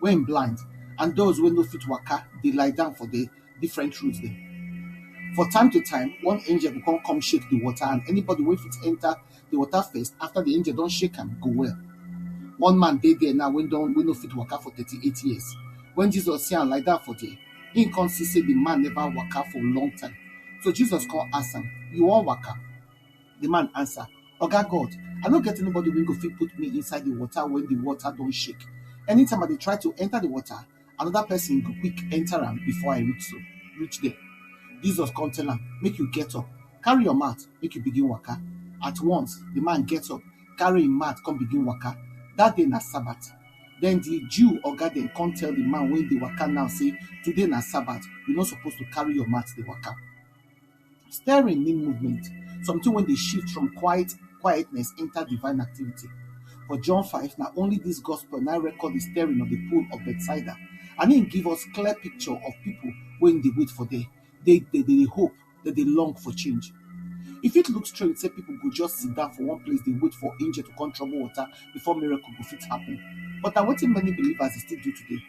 wey im blind and those wey no fit waka dey lie down for the different roads dem. For time to time, one angel go come come shake the water and anybody wey fit enter the water first after the angel don shake am go well. One man dey there now wey don wey no fit waka for 38 years. When Jesus see am lie down for there, he come see say the man never waka for long time. So Jesus come ask am, You wan waka? The man answer, Oga God, I no get anybody wey go fit put me inside the water when the water don shake. Anytime I dey try to enter the water, another person go quick enter am before I reach so reach there. Jesus come tell am, Make you get up, carry your mat, make you begin waka. At once, the man get up, carry him mat, come begin waka. That day na Sabbath. Then the Jew oga dem come tell the man wey dey waka now say, Today na Sabbath, you no suppose to carry your mat dey waka. Stirring mean movement, something when they shift from quiet quietness enter divine activity. For John 5, now only this gospel now record the stirring of the pool of Bethsaida. I mean, give us clear picture of people when they wait for day. They, they, they hope that they long for change. If it looks strange, say people go just sit down for one place, they wait for angel to come trouble water before miracle go fit happen. But now waiting many believers still do today.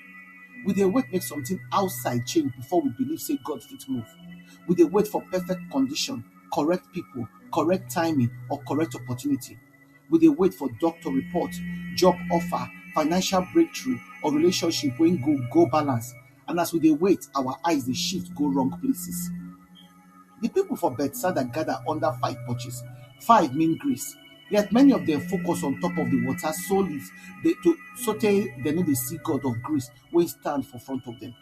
We they wait make something outside change before we believe say God fit move. we dey wait for perfect condition, correct pipu, correct timing or correct opportunity. We dey wait for doctor report, job offer, financial breakthrough or relationship wey go go balance and as we dey wait, our eyes dey shift go wrong places. Di pipu for Bethsaida gada under five porches. Five mean grace, yet many of dem focus on top of di water sotey dem no dey see God of grace wey stand for front of dem.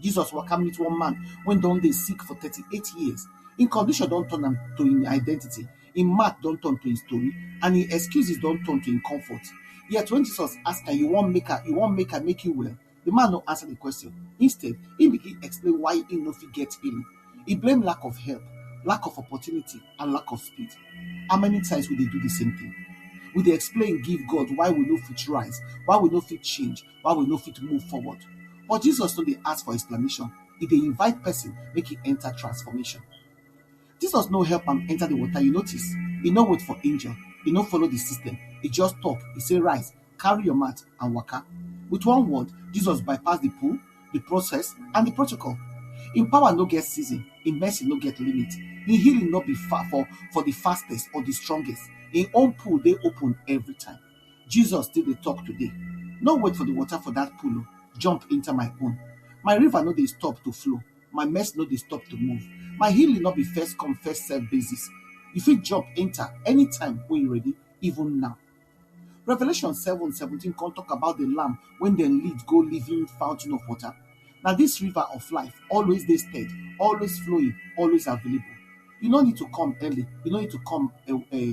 Jesus waka meet one man wey don dey sick for 38 years. Im condition don turn am to im identity, im mat don turn to im story and im excuses don turn to im comfort. Yet when Jesus ask am, you wan make I you wan make I make you well? The man no answer the question. Instead, he begin explain why he no fit get healing. He blame lack of help, lack of opportunity and lack of speed. How many times we dey do the same thing? We dey explain give God why we no fit rise, why we no fit change, why we no fit move forward. But Jesus no dey ask for explanation, e dey invite person make e enter transformation. Jesus no help am enter the water, you notice? E no wait for angel, e no follow the system, e just talk, e say rise, carry your mat and waka. With one word, Jesus bypass the pool, the process and the protocol. Im power no get season, im mercy no get limit, im healing no be far for, for the fastest or the strongest. Im own pool dey open every time. Jesus still dey talk today. No wait for the water for that pool, oh, jump enter my own. My river no dey stop to flow, my mess no dey stop to move. My healing no be first come first serve basis. You fit jump enter anytime when you ready, even now. Revelation 7 17 come talk about the lamb when they lead go living fountain of water. Now this river of life always they steady, always flowing, always available. You no need to come early, you no need to come uh, uh,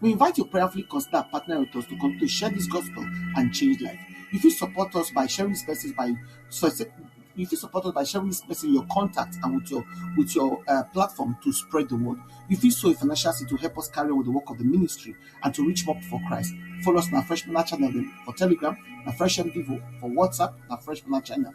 We invite you prayerfully consider partnering with us to continue to share this gospel and change life. You fit support us by sharing this message by success- you fit support us by sharing this message in your contact and with your with your uh, platform to spread the word. You fit sow a financial seed to help us carry on with the work of the ministry and to reach more for Christ. Follow us on our Fresh Manna channel for Telegram, na Fresh MDivo for WhatsApp, na Fresh Manna channel.